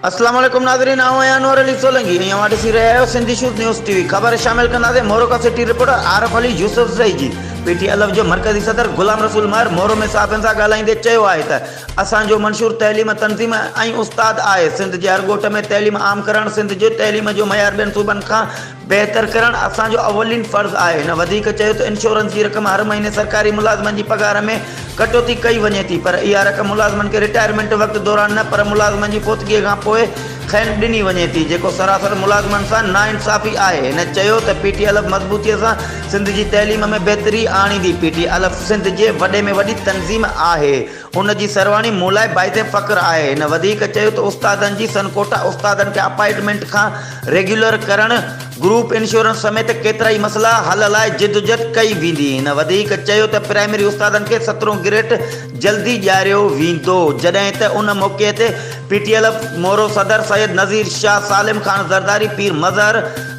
اسلام عليڪم ناظرين آئون آهيان انور علي سولنگي ۽ اوهان ڏسي رهيا آهيو Sindhi shows news T V خبر شامل ڪنداسين مورو کان city reporter Arif Ali Yousafzai جي پي ٽي الف جو مرڪزي صدر غلام رسول مهر مورو ۾ صحافين سان ڳالهائيندي چيو آهي ته اسان جو منشور تعليم تنظيم ۽ استاد آهي سنڌ جي هر ڳوٺ ۾ تعليم عام ڪرڻ سنڌ جي تعليم جو معيار ٻين صوبن کان بهتر ڪرڻ اسان جو اولين فرض آهي. هن وڌيڪ چيو ته انشورنس جي رقم هر مهيني سرڪاري ملازمن جي پگهار ۾ ڪٽوتي ڪئي وڃي ٿي پر اها رقم ملازمن کي رٽائرمينٽ وقت دوران نه پر ملازمن جي فوتگي کان پوء کين ڏني وڃي ٿي جيڪو سراسر ملازمن سان ناانصافي آهي هن چيو ته پي ٽي الف مضبوطي سان سنڌ جي تعليم ۾ بهتري آڻيندي پي ٽي الف سنڌ جي وڏي ۾ وڏي تنظيم آهي ان جي سرواڻي مون لاء باعث فخر آهي. هن وڌيڪ چيو ته استادن جي سنڪوٺا استادن کي اپائنٽمينٽ کان ريگيولر ڪرڻ، گروپ انشورنس سميت ڪيترائي مسئلا حل لاء جدوجھد ڪئي ويندي. هن وڌيڪ چيو ته پرائمري استادن کي سترهون گريڊ جلدي ڏياريو ويندو جڏهن ته ان موقعي تي پي ٽي ايلف مورو صدر سيد نذير شاهه، سالم خان زرداري، پير مظهر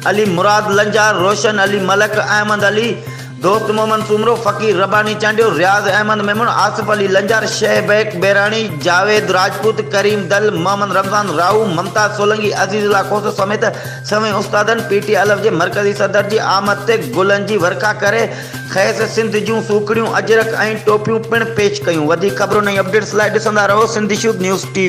علي، مراد لنجار، روشن علي ملڪ، احمد علي، دوست محمد سومرو، فقير رباني چانڊيو، رياض احمد ميمڻ، آصف علي لنجار، شيخ بيڪ ٻهراڻي، جاويد راجپوت، ڪريم دل، محمد رمضان راهو، ممتاز سولنگي، عزيز الله کوسو سميت سوين استادن پي ٽي الف جي مرڪزي صدر جي آمد تي گلن جي ورکا ڪري کيس سنڌ جون سوکڙيون، اجرڪ ۽ ٽوپيون پڻ پيش ڪيون. وڌيڪ خبرون ۽ اپڊيٽس لاء ڏسندا رهو سنڌ شوڌ نيوز ٽي وي.